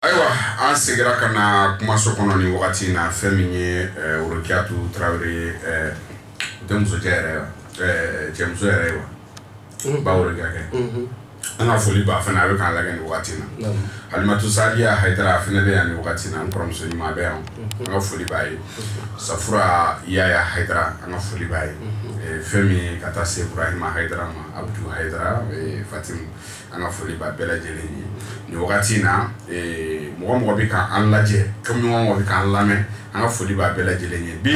ayiwa an segira ka na kumaso kɔnɔ ni wagati in na fɛn min ye eh, worokiyatu tarawele ye eh, tɛ musojɛ yɛrɛ ye wa eh, cɛmuso yɛrɛ ye wa mm-hmm. ba worokiyakɛ mm-hmm. an ka foli b'a fana a bɛ k'an lagɛ nin wagati in na alimatu sadiya hayidara a fana bɛ yan nin wagati in na n kɔrɔmuso ɲuman bɛ yan mm-hmm. an ka foli b'a ye safura yaya hayidara an ka foli b'a ye fɛn min ye ka taa se burahima hayidara ma abudu hayidara fatimu an ka foli b'a bɛɛ lajɛlen ye nin wagati in na eh, mɔgɔ mɔgɔ bɛ k'an lajɛ komi mɔgɔ mɔgɔ bɛ k'an lamɛn an ka foli b'a bɛɛ lajɛlen ye bi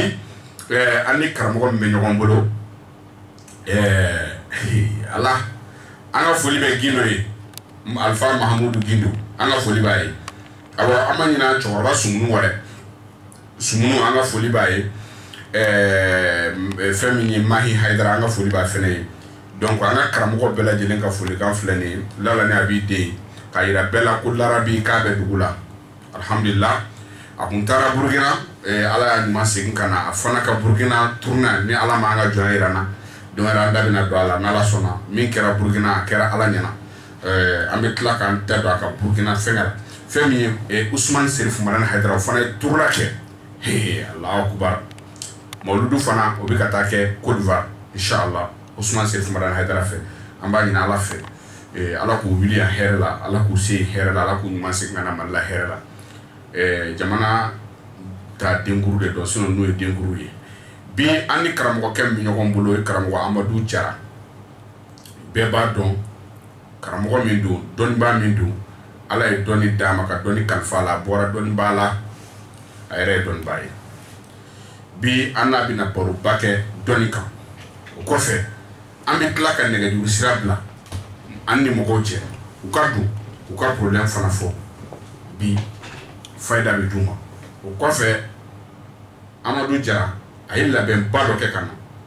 eh, an ni karamɔgɔ min bɛ ɲɔgɔn bolo eh, ala an ka foli bɛ gindo ye alifa mahamudu gindo an ka foli b'a ye awa an ma ɲinɛ cɛkɔrɔba sumunu wɛrɛ sumunu an ka foli b'a ye fɛn min ye mahi hayidara an ka foli b'a fana ye donc an ka karamɔgɔ bɛɛ lajɛlen ka folikan filɛ nin ye lala ni a b'i den k'a jira bɛɛ la ko larabi k'a bɛ dugu la alihamdulila a kun taara burukina ala y'a ɲuman segin ka na a fana ka burukina tournée in na ni ala ma an ka jɔn jira na donc an da bɛna don a la n' ala sɔnna min kɛra burukina a kɛra ala ɲɛna Ɛɛ an bɛ tila k'an da don a ka Burukina fɛngɛ la, fɛn min ye ɛ Usumani Serifu Madani Hayidara o fana ye tournée kɛ, he Alahu akbar mawuludu fana o bɛ ka taa kɛ Cote d'Ivoire in sha Allah Usumani Serifu Madani Hayidara fɛ, an b'a ɲini Ala fɛ ee Ala k'u wili yan hɛrɛ la, Ala k'u se yen hɛrɛ la, Ala k'u ɲuman segin ka na Mali la hɛrɛ la, ɛɛ jamana ta denkuru de don sinon ninnu ye denkuru ye, bi an ni karamɔgɔkɛ min bɛ ɲɔgɔn bolo o ye karamɔgɔ Amadu Jara bɛɛ b'a dɔn karamɔgɔ min don dɔnnibaa min don ala ye dɔnni d'a ma ka dɔnni kalifa a la a bɔra dɔnnibaa la a yɛrɛ ye dɔnnibaa ye bi an n'a bɛna baroba kɛ dɔnni kan o kɔfɛ an bɛ tila ka nɛgɛjuru sira bila an ni mɔgɔw cɛ u ka don u ka problème fana fɔ bi fayida bɛ d'u ma o kɔfɛ Amadu Jara a ye labɛnba dɔ kɛ ka na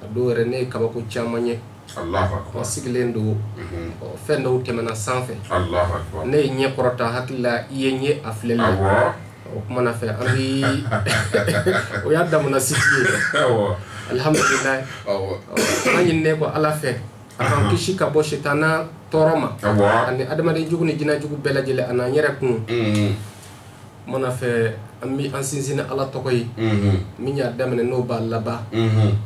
A dɔw yɛrɛ ne ye kabako caman ye o sigilen don fɛn dɔw tɛmɛna sanfɛ ne ye ɲɛ kɔrɔta hakili la i ye ɲɛ a filɛli la o kɔmana fɛ ayi o y'a daminɛ sigi alihamdulila an ɲininen ko ala fɛ a k'an kisi ka bɔ sitanɛ tɔɔrɔ ma ani adamaden jugu ni jinɛ jugu bɛɛ lajɛlen ani an yɛrɛ kun Mana fɛ an bɛ an sinsin ala tɔgɔ ye min y'a daminɛ n'o b'a laban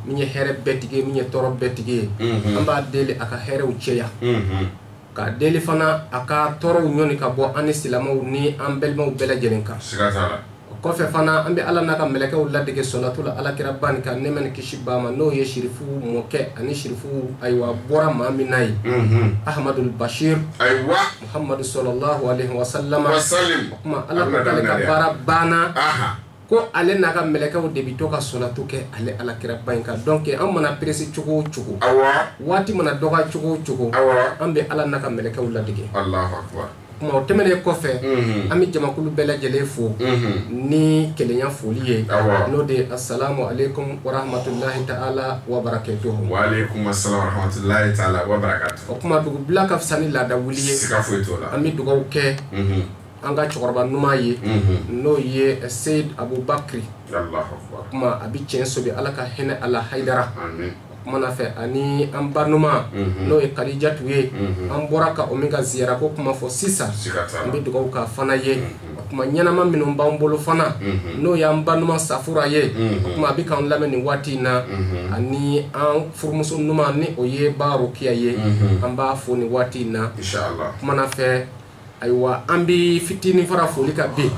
min ye hɛrɛ bɛɛtigi ye min ye tɔɔrɔ bɛɛtigi ye an b'a deli a ka hɛrɛw cɛya k'a deli fana a ka tɔɔrɔw ɲɔni ka bɔ an ni silamɛw ni an balimaw bɛɛ lajɛlen kan o kɔfɛ fana an bɛ ala n'a ka mɛlɛkɛw ladege solatu la ala kira bani kan nɛɛma ni kisi b'a ma n'o ye sirifuw mɔkɛ ani sirifuw ayiwa bɔra maa min n'a ye amadul basiri ayiwa Muhamadu salalahu alehi wasalama wasalim o kuma ala ko k'ale ka baara banna aha ko ale n'a ka mɛlɛkɛw de bɛ to ka sɔlatu kɛ ale ala kiraba in kan donc an mana perese cogo o cogo awa waati mana dɔgɔya cogo o cogo awa an bɛ ala n'a ka mɛlɛkɛw ladege allahu akbar o kuma o tɛmɛnen kɔfɛ Mhm. an bɛ jamakulu bɛɛ lajɛlen fo Mhm. ni kelenya foli ye Awɔ. n'o de ye asalamu aleykum warahmatulahi taala wabarakatuhu wa aleykum assalam wa rahmatullahi taala wa barakatuh O kuma dugu bila ka fisa ni laada wuli ye an bɛ dugawu kɛ an ka cɛkɔrɔba ɲuman ye n'o ye seyidi abubakari o kuma a bɛ cɛnso bi ala ka hinɛ a la hayidara o kumana fɛ ani an ba ɲuman n'o ye kadijatu ye an bɔra ka o min ka ziyara ko kuma fɔ sisan an bɛ dugawu k'a fana ye o kuma ɲɛnama minnu b'an bolo fana mhm. n'o y'an ba ɲuman safura ye mhm. o kuma a bɛ k'an lamɛn nin waati in na mhm. ani an furumuso ɲuman ni o ye ba rokiya ye an b'a fo nin waati in na kumana fɛ ayiwa an bɛ fitinin fara foli kan bi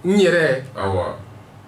n yɛrɛ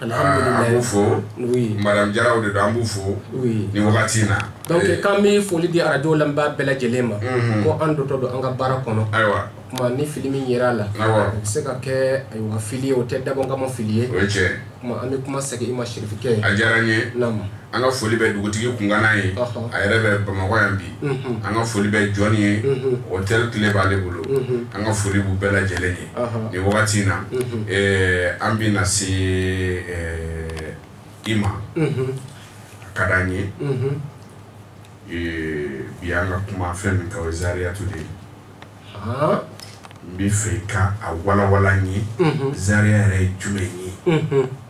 An b'u fo madamu jaraw de don an b'u fo ni wagati in na donc an bɛ foli di arajo lamɛnbaa bɛɛ lajɛlen ma ko an dontɔ don an ka baara kɔnɔ ayiwa kuma ni fili min yera a la o bɛ se ka kɛ ayiwa fili o tɛ dabɔ n kama fili ye an bɛ kuma segin i ma sirifikɛ a diyara n ye an ka foli bɛ dugutigi kungana ye a yɛrɛ bɛ bamakɔ yan bi an ka foli bɛ jɔn ye otɛli kile b'ale bolo an ka foli b'u bɛɛ lajɛlen ye nin wagati in na an bɛ na se i ma a ka di an ye bi an ka kuma fɛn min kan wazariyatu de ye n b'a fɛ i ka a walanwalan an ye zariya yɛrɛ ye jumɛn ye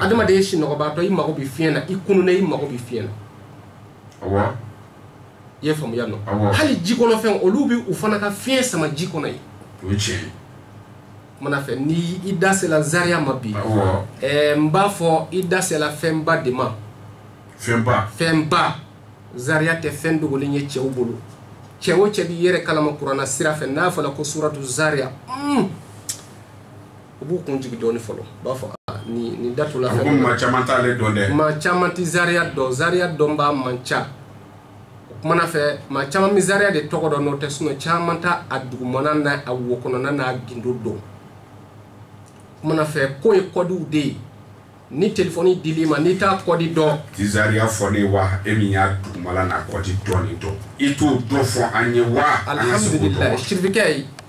adamaden ye sinɔgɔbaatɔ i mago bɛ fiɲɛ na i kununen i mago bɛ fiɲɛ na i y'a faamuya nɔ hali ji kɔnɔ fɛn olu bɛ u fana ka fiɲɛ sama ji kɔnɔ yen mana fɛ ni i da sela zariya ma bi ɛɛ n b'a fɔ i da sela fɛnba de ma fɛnba fɛnba zariya tɛ fɛn dogolen ye cɛw bolo cɛ o cɛ b'i yɛrɛ kalama kuranɛ sira fɛ n'a fɔra ko suratu zariya mm. u b'u kun jigi dɔɔni fɔlɔ u b'a fɔ ah, ni ni datu la fɛn maa caman t'ale dɔn dɛ maa caman tɛ zariya dɔn zariya dɔnbaa man ca o kumana fɛ maa caman bɛ zariya de tɔgɔ dɔn n'o tɛ sinɔn caman t'a a dugumana n'a wo kɔnɔna n'a gindo dɔn kumana fɛ k'o ye kɔdiw de ye ni telefɔni dil'i ma n'i t'a kɔdi dɔn tɛ zariya fɔ n ye wa e min y'a dugumala n'a kɔdi dɔɔni dɔn i t'o dɔ fɔ an ye wa alhamdulilayi sirifikɛ ye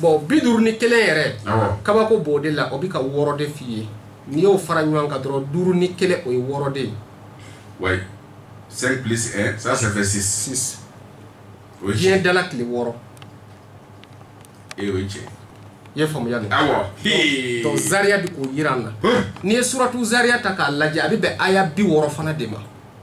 bɔn bi duuru ni kelen yɛrɛ kabako b'o de la o bɛ ka wɔɔrɔ de f'i ye n'i y'o fara ɲɔgɔn kan dɔrɔn duuru ni kelen o ye wɔɔrɔ de ye ouais cinq plus un ça ça fait six six diɲɛ dala tile wɔɔrɔ e o ye tiɲɛ i ye faamuya de awɔ donc zariya bɛ k'o jira an na n'i ye suratu zariya ta k'a lajɛ a bɛ bɛn aya bi wɔɔrɔ fana de ma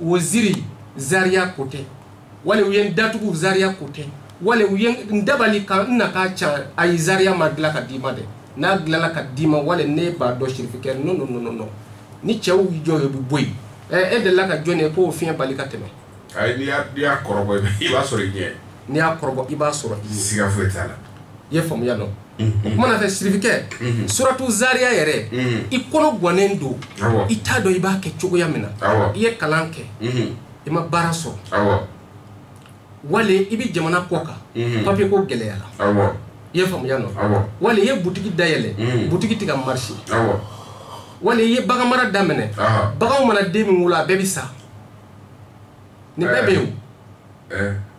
waziri zariya ko tɛ wali u ye n datugu zariya ko tɛ wali u ye n dabali ka n na k'a ca ayi zariya ma dilan ka d'i ma dɛ n'a dilanna ka d'i ma wali ne b'a dɔn sirifikɛ no no no no ni cɛw jɔ yen u bɛ bɔ yen ɛ e delila ka jɔn ye k'o fiɲɛ bali ka tɛmɛ. ayi n'i y'a kɔrɔbɔ i b'a sɔrɔ i ɲɛ. n'i y'a kɔrɔbɔ i b'a sɔrɔ i ɲɛ. siga foyi t'a la. i ye faamuya nɔ. o kuma na fɛ sirifikɛ suratu zariya yɛrɛ i kɔnɔ gwannen don i t'a dɔn i b'a kɛ cogoya min na i ye kalan kɛ i ma baara sɔrɔ wali i bɛ jamana kɔ kan papiye ko gɛlɛyara i ye faamuya nɔ wali i ye butigi dayɛlɛ butigi tɛ ka marché wali i ye bagan mara daminɛ baganw mana den min wolo a bɛɛ bɛ sa nin bɛɛ bɛ yen o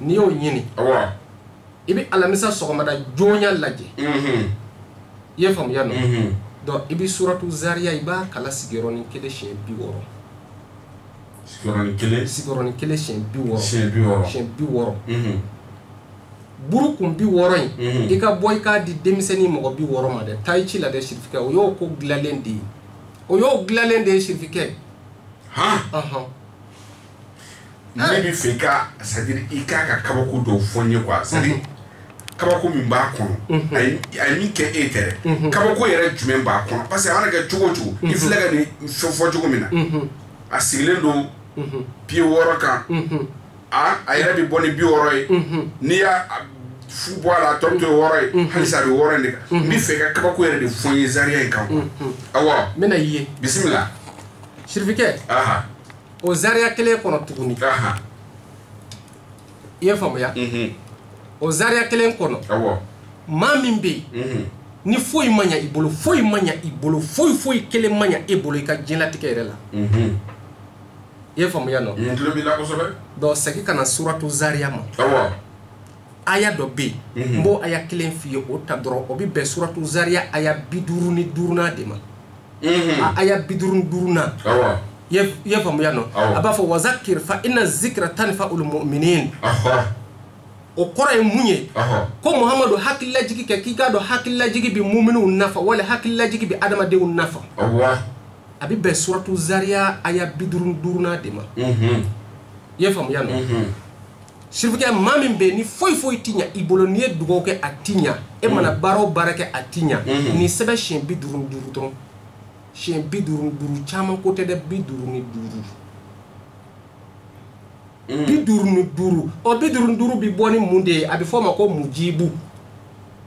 n'i y'o ɲini i bɛ alamisa sɔgɔmada joona lajɛ i ye faamuya nɔ donc i bɛ suratu zariya i b'a kalan sigiyɔrɔnin kelen siyɛn bi wɔɔrɔ sigiyɔrɔnin kelen sigiyɔrɔnin kelen siyɛn bi wɔɔrɔ siyɛn bi wɔɔrɔ siyɛn bi wɔɔrɔ buru kun bi wɔɔrɔ in mhm. i ka bɔ i k'a di denmisɛnnin mɔgɔ bi wɔɔrɔ ma dɛ taa i ci la dɛ sirifikɛ o y'o ko dilanlen de ye o y'o dilanlen de ye sirifikɛ ne b'a fɛ i ka c'est-à-dire i k'a ka kabako dɔw fɔ n ye quoi c'est-à-dire mhm. kabako min b'a kɔnɔ mhm. a ye min kɛ e tɛ dɛ mhm. kabako yɛrɛ jumɛn b'a kɔnɔ parce que a mana kɛ cogo o cogo i filɛ ka nin fɛn fɔ cogo min na a sigilen don piye wɔɔrɔ kan a a yɛrɛ bɛ bɔ ni bi wɔɔrɔ ye n'i y'a fu bɔ a la a tɔ bɛ to wɔɔrɔ ye halisa a bɛ wɔɔrɔ in de kan n b'a fɛ i ka kabako yɛrɛ de fɔ n ye zariya in kan quoi awɔ n bɛna i ye bisimila sirifikɛ. o zariya kelen kɔnɔ tuguni i ye faamuya mhm. o zariya kelen kɔnɔ maa min bɛ yen mhm. ni foyi ma ɲa i bolo foyi ma ɲa i bolo foyi foyi kelen ma ɲa e bolo i ka diɲɛlatigɛ yɛrɛ la mhm. i ye faamuya nɔ donc segin ka na suratu zariya ma aya dɔ bɛ yen n b'o aya kelen f'i ye o ta dɔrɔn o bɛ bɛn suratu zariya aya bi duuru ni duurunan de ma a aya bi duuru ni duurunan i ye faamuya nɔ a b'a fɔ wa zakir fa inna zikira tanfa'ul muminin o kɔrɔ ye mun ye ko muhamadu hakililajigi kɛ k'i k'a dɔn hakililajigi bɛ muminw nafa wali hakililajigi bɛ adamadenw nafa a bɛ bɛn suratu zariya aya bi duuru ni duurunan de ma i ye faamuya nɔ sirifukɛ maa min bɛ ni foyi foyi ti ɲa i bolo n'i ye dugawu kɛ a ti ɲa e mana mm. baara o baara kɛ a ti ɲa mm-hmm. nin sɛbɛn siɲɛ bi duuru ni duuru dɔrɔn siɲɛ bi duuru ni duuru caman ko tɛ dɛ bi duuru ni duuru mm. bi duuru ni duuru ɔ bi duuru ni duuru bi bɔ ni mun de ye a bɛ fɔ o ma ko mujibu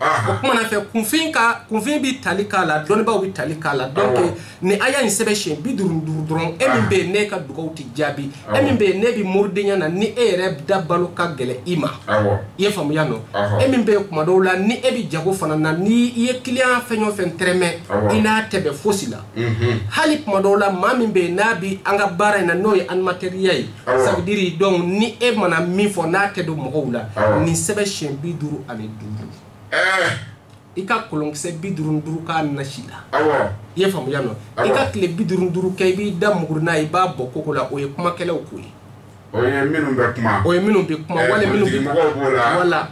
o kuma na fɛ kunfin ka kunfin bi tali k'a la dɔnbaaw bi tali k'a la donc nin aya in sɛbɛn siɲɛ bi duuru duuru dɔrɔn e min bɛ yen n'e ka dugaw tɛ jaabi e min bɛ yen n'e bɛ moridenya na ni e yɛrɛ dabalo ka gɛlɛ i ma i ye faamuya nɔ e min bɛ yen kuma dɔw la ni e bɛ jago fana na ni i ye kiliyan fɛn o fɛn tɛrɛmɛ i n'a tɛ bɛn fosi la hali kuma dɔw la maa min bɛ yen n'a bi an ka baara in na n'o ye animateur ya ye ça veut dire donc ni e mana min fɔ n'a tɛ don mɔgɔw la nin sɛbɛn siyɛn bi duuru ani duuru i ka kolonkisɛ bi duuru duuru k'a nasi la i ye faamuya nɔ i ka tile bi duuru duuru kɛ i b'i da muguri n'a i b'a bɔ koko la o ye kumakɛlaw ko ye o ye minnu bɛ kuma o ye minnu bɛ kuma wala minnu bɛ mɔgɔw b'o la wala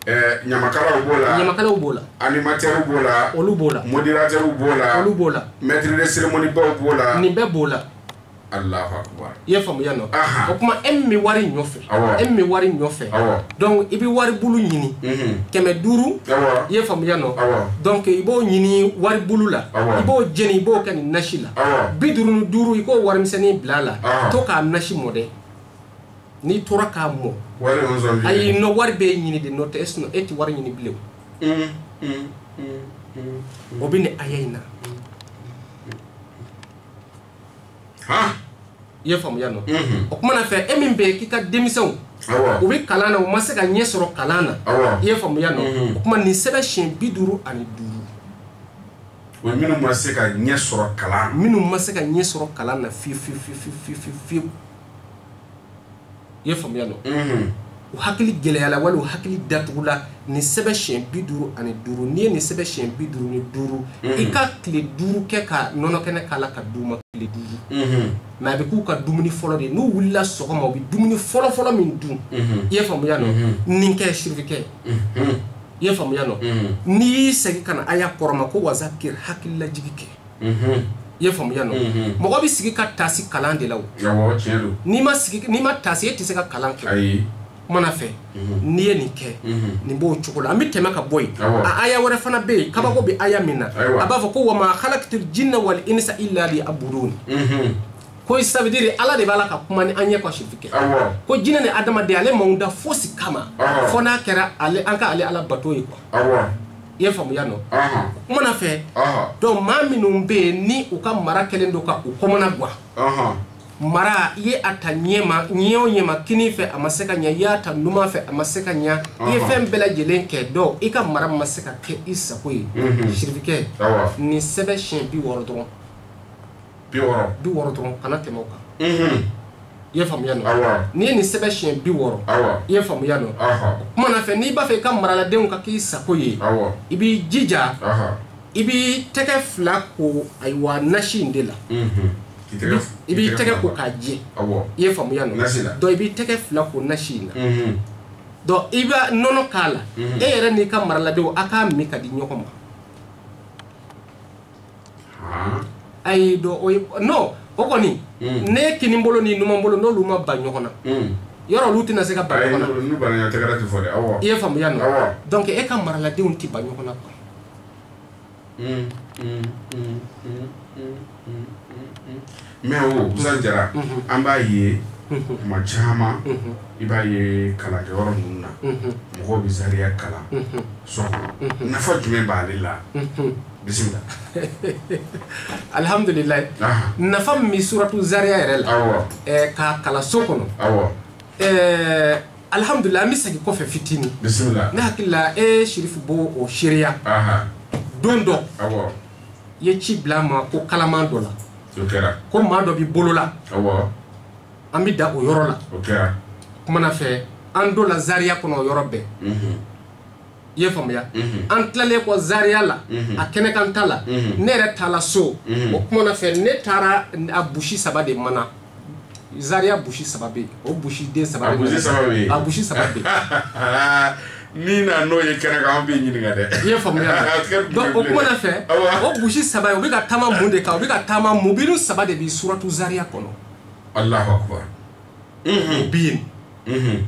ɲamakalaw b'o la ɲamakalaw b'o la animateurw b'o la olu b'o la modérateur b'o la olu b'o la maître de cérémoniew b'o la nin bɛɛ b'o la i ye faamuya nɔ o kuma e min bɛ wari nɔfɛ e min bɛ wari nɔfɛ donc i bɛ wari bulu ɲini kɛmɛ duuru i ye faamuya nɔ donc i b'o ɲini wari bulu la i b'o jeni i b'o kɛ nin nasi la bi duuru ni duuru i k'o warimisɛnnin bila a la to k'a nasi mɔ dɛ n'i tora k'a mɔ ayi nɔ wari b'e ɲini de nɔ tɛ e tɛ wari ɲini bilen o bɛ nin aya in na i ye faamuya nɔ o kuma na fɛ e min bɛ k'i ka denmisɛnw u bɛ kalan na u ma se ka ɲɛ sɔrɔ kalan na i ye faamuya nɔ o kuma nin sɛbɛn siɲɛ bi duuru ani duuru o minnu ma se ka ɲɛ sɔrɔ kalan na minnu ma se ka ɲɛ sɔrɔ kalan na fiyewu i ye faamuya nɔ u hakili gɛlɛyala wala u hakili datugula nin sɛbɛn siyɛn bi duuru ani duuru n'i ye nin sɛbɛn siyɛn bi duuru ni duuru i ka tile duuru kɛ ka nɔnɔ kɛnɛ k'a la k'a d'u ma tile duuru mɛ a bɛ k'u ka dumuni fɔlɔ de n'u wulila sɔgɔma u bɛ dumuni fɔlɔfɔlɔ min dun i ye faamuya nɔ nin kɛ sirifikɛ i ye faamuya nɔ n'i y'i segin ka na aya kɔrɔ ma ko wa zakiri hakililajigi kɛ i ye faamuya nɔ mɔgɔ bɛ sigi ka tasi kalan de la o n'i ma sigi n'i ma tasi e tɛ se ka kalan kɛ o kuma na fɛ n'i ye nin kɛ nin b'o cogo la an bɛ tɛmɛ ka bɔ yen a aya wɛrɛ fana bɛ yen kabako bɛ aya min na a b'a fɔ ko wa ma halakitu jinna wali inisa illa li yabuduni ko ça veut dire ala de b'a la ka kuma ni an ye ko sirifikɛ ko jinɛ ni adamaden ale m'anw da fosi kama fo n'a kɛra ale an ka ale ala bato ye kuwa i ye faamuya non kuma na fɛ donc maa minnu bɛ yen ni u ka mara kɛlen don ka u kamana gwan mara i ye a ta ɲɛma ɲɛ o ɲɛma kinin fɛ a ma se ka ɲɛ i y'a ta numan fɛ a ma se ka ɲɛ i ye fɛn bɛɛ lajɛlen kɛ dɔn i ka mara ma se ka kɛ i sago ye sirifikɛ nin sɛbɛn siɲɛ bi wɔɔrɔ dɔrɔn bi wɔɔrɔ dɔrɔn kana tɛmɛ o kan i ye faamuya non n'i ye nin sɛbɛn siɲɛ bi wɔɔrɔ i ye faamuya non kuma na fɛ n'i b'a fɛ i ka maraladenw ka k'i sago ye i b'i jija i b'i tɛgɛ fila ko ayiwa nasi in de la i b'i tɛgɛ ko k'a jɛ i ye faamuya non dɔn i b'i tɛgɛ fila ko nasi in na dɔn i bɛ nɔnɔ k'a la e yɛrɛ n'i ka maraladenw a k'a min ka di ɲɔgɔn ma ayi dɔn non o kɔni hmm. ne kinin bolo ni numan bolo n'olu ma ban ɲɔgɔn na hmm. yɔrɔ olu tɛna se ka ban ɲɔgɔn na n'u banna ɲɔgɔn tɛgɛrɛ tɛ fɔ dɛ awɔ i ye faamuya non donc e ka maraladenw tɛ ban ɲɔgɔn na quoi hmm, Mɛ Usman Jara an b'a ye kuma caman i b'a ye kalankɛyɔrɔ ninnu na mɔgɔ bɛ zariya kalan so nafa jumɛn b'ale la bisimila alihamdulila nafa min bɛ suratu zariya yɛrɛ la k'a kalan so kɔnɔ alihamdula an bɛ segin kɔfɛ fitinin bisimila ne hakili la e sirifu b'o seereya don dɔn i ye ci bila n ma ko kalaman dɔ la ko maa dɔ b'i bolo la an bɛ da o yɔrɔ la kuma na fɛ an donna zariya kɔnɔ o yɔrɔ bɛɛ mhm. i ye faamuya mhm. an tilalen kɔ zariya la mhm. a kɛnɛ kan ta la ne yɛrɛ taala so o kuma na fɛ ne taara a busi saba de mana Zaria busi saba bɛ yen o busi den saba a busi saba bɛ yen a busi saba bɛ yen min na n'o ye kɛnɛ kan an bɛ ɲininka dɛ i ye faamuya donc o kuma na fɛ o busi saba u bɛ ka taama mun de kan u bɛ ka taama mubinu saba de bɛ suratu Zaria kɔnɔ Alahu akubar o bɛ yen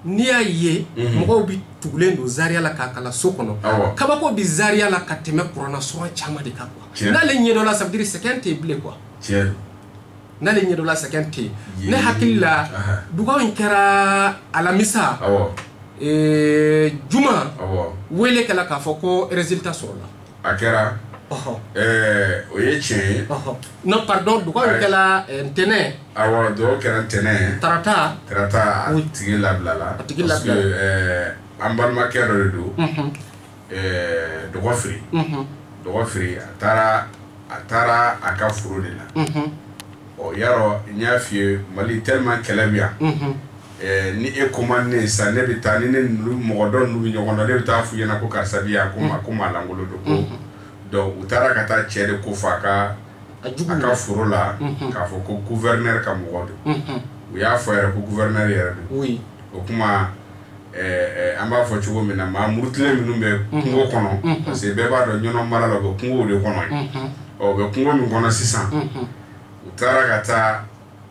n'i y'a ye mhm. mɔgɔw bɛ tugulen don Zaria la k'a kalan so kɔnɔ kabako bɛ Zaria la ka tɛmɛ kurana sura caman de kan quoi n'ale ɲɛdɔnna ça veut dire sɛgɛn tɛ yen bilen quoi n'ale ɲɛdɔla sɛgɛn tɛ yen ne hakili la dugaw in kɛra alamisa juma wele kɛla k'a fɔ ko résultat sɔrɔla a kɛra o ye tiɲɛ ye non pardon dugaw in kɛla ntɛnɛn awa dugaw kɛra ntɛnɛn tarata tarata a tigi labilala a tigi labila an balimakɛ dɔ de don dɔgɔ fɛ dɔgɔ fɛ a taara a taara a ka foro de la ɔ ya n y'a f'i ye Mali tellement kɛlɛ bɛ yan ni e ko man di n ye sa ne bɛ taa ni ne mɔgɔ dɔ bɛ ɲɔgɔn dɔn ne bɛ taa f'u ɲɛna ko karisa bɛ yan ko ma ko maa lankolon don donc u taara ka taa cɛ de ko fɔ a ka a ka foro la k'a fɔ ko gouverneur ka mɔgɔ don u y'a fɔ yɛrɛ ko gouverneur yɛrɛ don o tuma Ɛɛ an b'a fɔ cogo min na maa murutilen minnu bɛ kungo kɔnɔ parce que bɛɛ b'a dɔn ɲɔn mara la bɛ kungo de kɔnɔ ye u bɛ kungo min kɔnɔ sisan u taara ka taa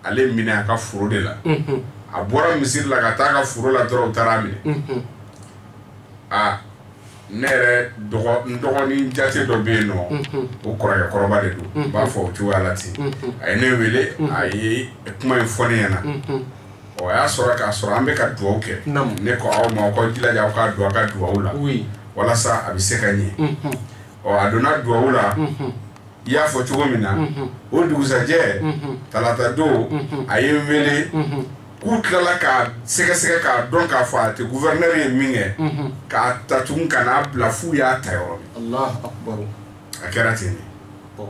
ale minɛ a ka foro de la a bɔra misiri la ka taa a ka foro la dɔrɔn u taara a minɛ aa ne yɛrɛ dɔgɔnin jate dɔ bɛ yen nɔ o kɔrɔkɛ kɔrɔba de don u b'a fɔ o cogoya la ten a ye ne wele a ye kuma in fɔ ne ɲɛna na ɔ a y'a sɔrɔ k'a sɔrɔ an bɛ ka dugawu kɛ Naamu. ne ko aw ma aw k'aw jilaja aw ka don a ka dugawu la oui walasa a bɛ se ka ɲɛ Mhm. ɔ a donna dugawu la Mhm. i y'a fɔ cogo min na Mhm. o dugusajɛ Mhm. talata don Mhm. a ye n wele Mhm. k'u tilala k'a sɛgɛsɛgɛ k'a dɔn k'a fɔ a tɛ gouverneur ye minkɛ Mhm. k'a ta tugun ka n'a bila f'u y'a ta yɔrɔ min Allahu akbar a kɛra ten de Bon.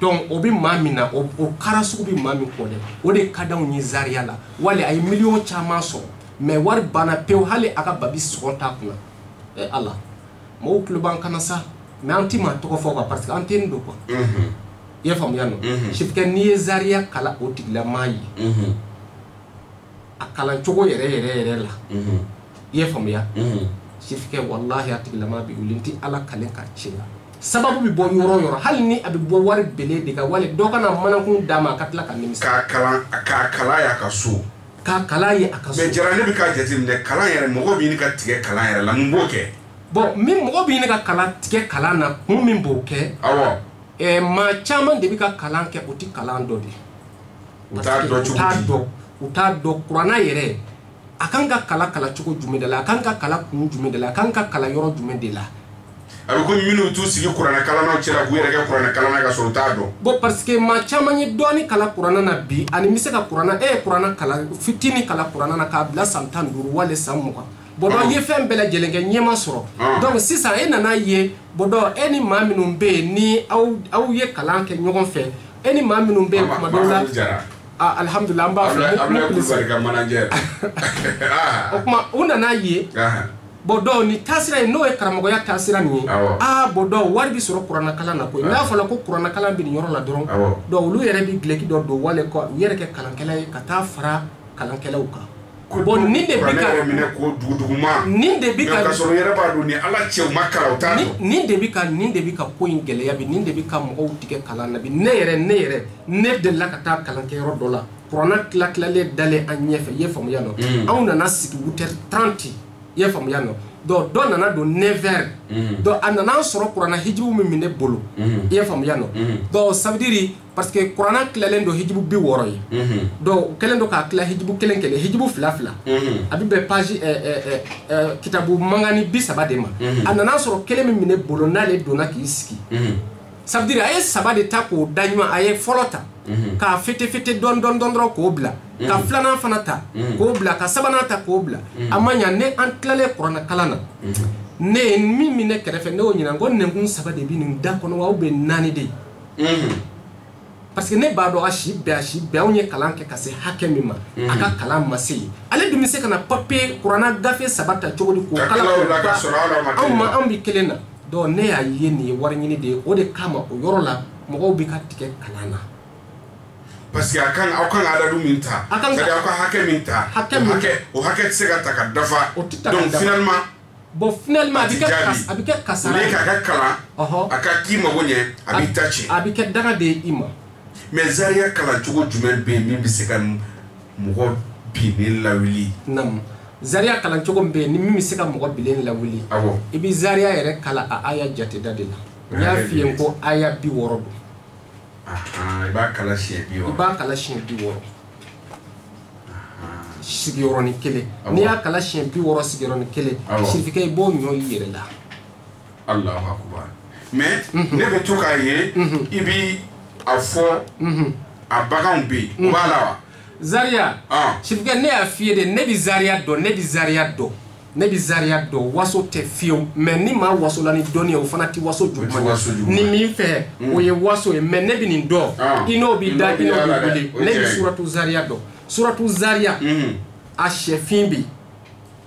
donc o bɛ maa min na o kara sugu bɛ maa min kɔ dɛ o de ka d'anw ye Zaria la wali a ye miliyɔn caman sɔrɔ mais wari banna pewu hali a ka babi sɔngɔ t'a kunna ɛ Ala mɔgɔw tulo b'an kan na sa mais an tɛ maa tɔgɔ fɔ quoi parce que an tɛ nin dɔn quoi i y'a faamuya nɔ sifkɛ n'i ye Zaria kala o tigilamaa ye. a kalan cogo yɛrɛ yɛrɛ yɛrɛ la i y'a faamuya sikɛ walahi a tigilamaa bɛ wuli tɛ ala kalen ka tiɲɛ la sababu bɛ bɔ yɔrɔ yɔrɔ hali ni a bɛ bɔ wari bele de kan wali dɔ kana manakun d'a ma a ka tila ka nimi k'a kalan k'a kalan y'a ka so k'a kalan ye a ka so mais Jara ne bɛ k'a jateminɛ kalan yɛrɛ mɔgɔ bɛ ɲini ka tigɛ kalan yɛrɛ la mun b'o kɛ bon min mɔgɔ bɛ ɲini ka kalan tigɛ kalan na kun min b'o kɛ awɔ ɛɛ maa caman de bɛ ka kalan kɛ u tɛ kalan dɔn de ye u t'a dɔn cogo t'a dɔn u t'a dɔn kuranna yɛrɛ a kan ka kala kala cogo jumɛn de la a kan ka kala kun jumɛn de la a kan ka kala yɔrɔ jumɛn de la a bɛ komi minnu t'u sigi kuranna kalannaw cɛla k'u yɛrɛ kɛ kuranna kalanna ka sɔrɔ u t'a dɔn bon parce que maa caman ye dɔɔni kala kuranna na bi ani n bɛ se ka kuranna e ye kuranna kalan fitini kala kuranna na k'a bila san tan ni duuru wali san mugan bon dɔ ye fɛn bɛɛ lajɛlen kɛ ɲɛma sɔrɔ donc sisan e nana ye bon donc e ni maa minnu bɛ yen ni aw aw ye kalan kɛ ɲɔgɔn fɛ e ni maa minnu bɛ yen kuma dɔw la alihamudulila an b'a fɔ o kuma u nana ye bon donc ni taasira ye n'o ye karamɔgɔya taasira nin ye aa bon donc wari bɛ sɔrɔ kuranakalan na koyi n'a fɔra ko kuranakalan bɛ nin yɔrɔ la dɔrɔn donc olu yɛrɛ bɛ dulɔki dɔ don wali k'u yɛrɛ kɛ kalankɛla ye ka taa fara kalankɛlaw kan bon nin de bɛ ka minɛ ko duguduguma nin de bɛ ka kasɔrɔ yɛrɛ b'a dɔn ni ala cɛw ma kalan o t'a dɔn nin de bɛ ka nin de bɛ ka ko in gɛlɛya bi nin de bɛ ka mɔgɔw tigɛ kalan na bi ne yɛrɛ ne yɛrɛ ne delila ka taa kalan kɛ yɔrɔ dɔ la kuranna tila tilalen dalen an ɲɛfɛ i ye faamuya nɔ mm. anw nana sigi huit heures 30 i ye faamuya nɔ donc dɔ nana don neuf heures mm. donc a nana sɔrɔ kuranna hijibu min bɛ ne bolo mm. i ye faamuya nɔ donc ça veut dire parce que kuranna tilalen don hijibu bi wɔɔrɔ ye donc u kɛlen don k'a tila hijibu kelen kelen hijibu fila fila a bɛ bɛn page eh, eh, eh, kitabu mangani bi saba de ma a nana sɔrɔ kelen min bɛ ne bolo n'ale donna k'i sigi ça veut dire a ye saba de ta k'o da ɲuman a ye fɔlɔ ta k'a fete fete dɔn dɔn dɔn dɔrɔn k'o bila ka filanan fana ta k'o bila ka sabanan ta k'o bila a ma ɲa ne an tilalen kuranna kalan na ne ye min bɛ ne kɛrɛfɛ ne y'o ɲininka n ko nɛnkun saba de bɛ nin da kɔnɔ wa ou bien naani de ye parce que ne b'a dɔn a si bɛɛ a si bɛɛ anw ye kalan kɛ ka se hakɛ min ma a ka kalan ma se yen ale dun bɛ se ka na papiye kuranna gafe saba ta cogo di k'o kalan anw ma anw bɛ kelen na donc ne y'a ye nin ye wari ɲini de ye o de kama o yɔrɔ la mɔgɔw bɛ ka tigɛ kalan na parce que a kan aw kan ka adadu min ta c'est à dire aw ka hakɛ min ta hakɛ o hakɛ tɛ se ka ta ka dafa donc finalement bon finalement a bɛ kɛ kas a bɛ kɛ kasara ye k'a ka kalan a ka k'i mago ɲɛ a b'i ta tiɲɛ a bɛ kɛ danga de ye i ma mais Zaria kalan cogo jumɛn bɛ yen min bɛ se ka mɔgɔ binnen lawuli naamu Zaria kalan cogo min bɛ yen ni min bɛ se ka mɔgɔ binnen lawuli awɔ i bɛ Zaria yɛrɛ kalan a aya jateda de la n y'a f'i ye n ko aya bi wɔɔrɔ don Ahan, i b'a kalan siɲɛ bi wɔɔrɔ i b'a kalan siɲɛ bi wɔɔrɔ sigiyɔrɔnin kelen Awɔ. n'i y'a kalan siɲɛ bi wɔɔrɔ sigiyɔrɔnin kelen Awɔ. sirifikɛ i b'o ɲɔ i yɛrɛ la alahu akubar mais ne bɛ to k'a ye i bɛ a fɔ a baganw bɛ yen o b'a la wa zaria Ah. sirifikɛ ne y'a f'i ye de ne bɛ zaria dɔn ne bɛ zaria dɔn ne bɛ zariya dɔn waso tɛ fiyewu mais ni maa wasola ni dɔnni ye o fana tɛ waso juguman ye ni min fɛ hmm. o ye waso ye mais ne bɛ nin dɔn ah. i n'o b'i da i n'o b'i wuli ne bɛ suratu zariya dɔn suratu zariya hmm. a sɛfin bɛ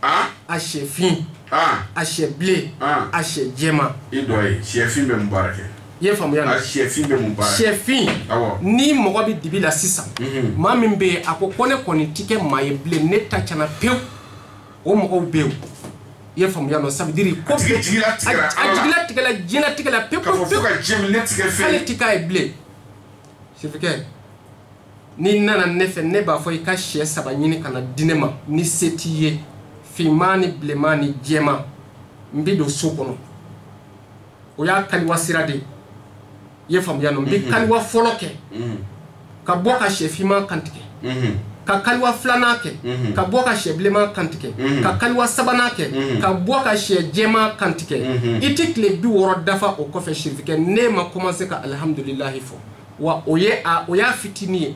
ah. a sɛfin ah. a sɛ bilen a sɛ jɛman i dɔ ye sɛfin bɛ mun baara kɛ i ye faamuya na sɛfin bɛ mun baara sɛfin ni mɔgɔ bɛ dibi la sisan hmm. maa min bɛ yen a ko ko ne kɔni tɛ kɛ maa ye bilen ne ta cɛna pewu o mɔgɔw bɛ yen i ye faamuya nɔ ça veut dire ko a jigila tigɛla diɲɛ tigɛla pewu pewu k'ale ti k'a ye bilen sirifikɛ n'i nana ne fɛ ne b'a fɔ i ka sɛ saba ɲini ka na di ne ma ni se t'i ye finman ni bilenman ni jɛman n bɛ don so kɔnɔ o y'a kaliwa sira de ye i ye faamuya nɔ n bɛ kaliwa fɔlɔ kɛ ka bɔ ka sɛ finman kantigɛ ka kaliwa filanan kɛ ka bɔ ka sɛ bilenman kantigɛ ka kaliwa sabanan kɛ ka bɔ ka sɛ jɛman kantigɛ i tɛ tile bi wɔɔrɔ dafa o kɔfɛ sirifikɛ ne ma kɔmanse ka alihamudulilahi fɔ wa o ye a o y'a fitinin ye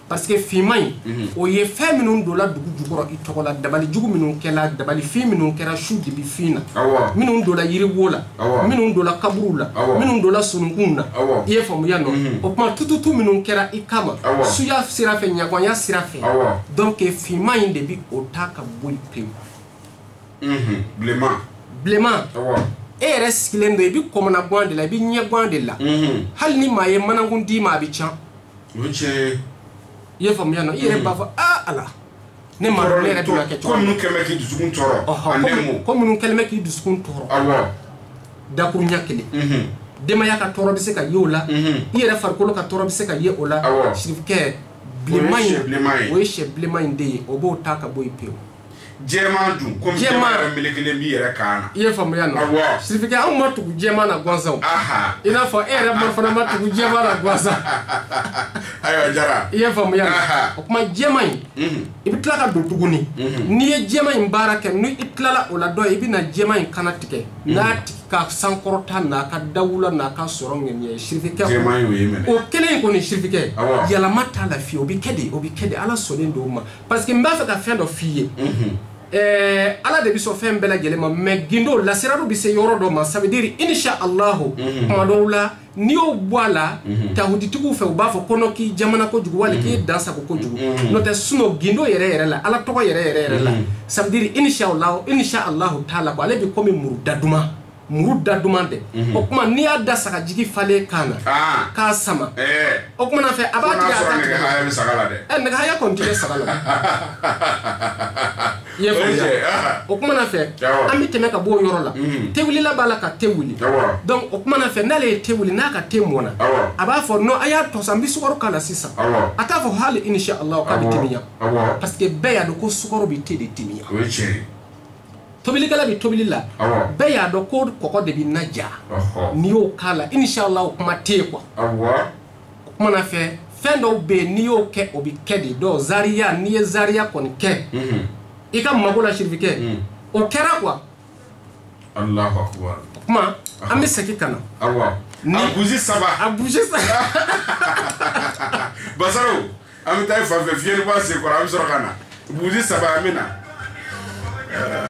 parce que finman in mhm. o ye fɛn minnu donna dugu jukɔrɔ i tɔgɔ la dabali jugu minnu kɛla dabali fin minnu kɛra su dibi fin na minnu donna yiriwo la minnu donna kaburuw la minnu donna sununkunw na i ye faamuya nɔ mhm. o kuma tututu minnu kɛra i kama suya sira fɛ ɲangoya sira fɛ donc finman in de bi o ta ka bɔ yen pewu mhm. bilenman bilenman e yɛrɛ sigilen don i bi kɔnɔnaguwan de la i bi ɲɛguwan de la hali ni maa ye manakun d'i ma a bi can o ye tiɲɛ ye i ye faamuya nɔ i yɛrɛ b'a fɔ aa ala ne ma dɔn ne yɛrɛ bɛ ka kɛ cogo ko min minnu kɛlen bɛ k'i dusukun tɔɔrɔ Ɔhɔ, a ko- nɛmu ko minnu kɛlen bɛ k'i dusukun tɔɔrɔ awɔ dakuruɲɛ kelen mhm, denbaya ka tɔɔrɔ bɛ se ka ye o la mhm. i yɛrɛ farikolo ka tɔɔrɔ bɛ se ka ye o la Awɔ. sirifikɛ bilenman O ye sɛ bilenman ye. in o ye sɛ bilenman in de ye o b'o ta ka bɔ yen pewu jɛman dun komi Jɛman. jɛman yɛrɛ melekelen b'i yɛrɛ kan na i ye faamuya nɔ Awɔ. sirifikɛ anw ma tugu jɛman na gansan aha i n'a fɔ e yɛrɛ ma fana ma tugu jɛman na gansan ayiwa jara i ye faamuya nɔ Aha. o kuma jɛman in Mhm. i bɛ tila ka don tuguni n'i ye jɛman in baara kɛ ni i tilala o la dɔrɔn i bɛna jɛman in kannatigɛ n'a tigi ka sankɔrɔta n'a ka dawula n'a ka sɔrɔ ŋaniya sirifikɛ jɛman y'o ye mɛnɛ o kelen in kɔni sirifikɛ Awɔ. yɛlɛma t'a la fiyewu o bɛ kɛ de o bɛ kɛ de ala sɔnnen don o ma parce que n b'a fɛ ka fɛn dɔ f'i ye eh, ala de bɛ sɔn fɛn bɛɛ lajɛlen ma mais gindo lasiraru bɛ se yɔrɔ dɔ ma ça veut dire insha allahu mhm. kuma dɔw la n'i y'o bɔ a la mhm. tahuditigiw fɛ u b'a fɔ ko non k'i jamana kojugu wali k'i mhm. dansago kojugu n'o tɛ sinon gindo yɛrɛ yɛrɛ la ala tɔgɔ yɛrɛ yɛrɛ yɛrɛ la ça veut dire insha allahu insha allahu taala ko ale bɛ komi muru da duman muru da duman dɛ mhm. o kuma n'i y'a da saga jigi falen kan na ah. k'a sama eh. o kuma na fɛ a b'a tigɛ a t'a tigɛ nɛgɛ haya bɛ saga la dɛ ɛ eh, nɛgɛ haya kɔni tɛ kɛ saga la i ye faamuya ah. o kuma na fɛ an bɛ tɛmɛ ka bɔ o yɔrɔ la mhm. te wulila b'a la ka te wuli donc o kuma na fɛ n'ale ye te wuli n'a ka te mɔna a b'a fɔ non a y'a to sa n bɛ sukaro k'a la sisan a t'a fɔ hali insha allahu k'a bɛ timiya parce que bɛɛ y'a dɔn ko sukaro bɛ te de timiya o ye tiɲɛ ye tobilikɛla bɛ tobili la bɛɛ y'a dɔn ko kɔgɔ de bɛ na ja n'i y'o k'a la inshallah o kuma tɛ yen quoi o kuma na fɛ fɛn dɔw bɛ yen n'i y'o kɛ o bɛ kɛ de donc zariya n'i ye zariya kɔni kɛ mhm. i ka mago la sirifikɛ mhm. o kɛra quoi Allahu akbar o kuma an bɛ segin ka na a buzi saba a buzi saba basaro an bɛ taa fan fɛ fiɲɛni b'a sen kɔrɔ an bɛ sɔrɔ ka na buzi saba an bɛ na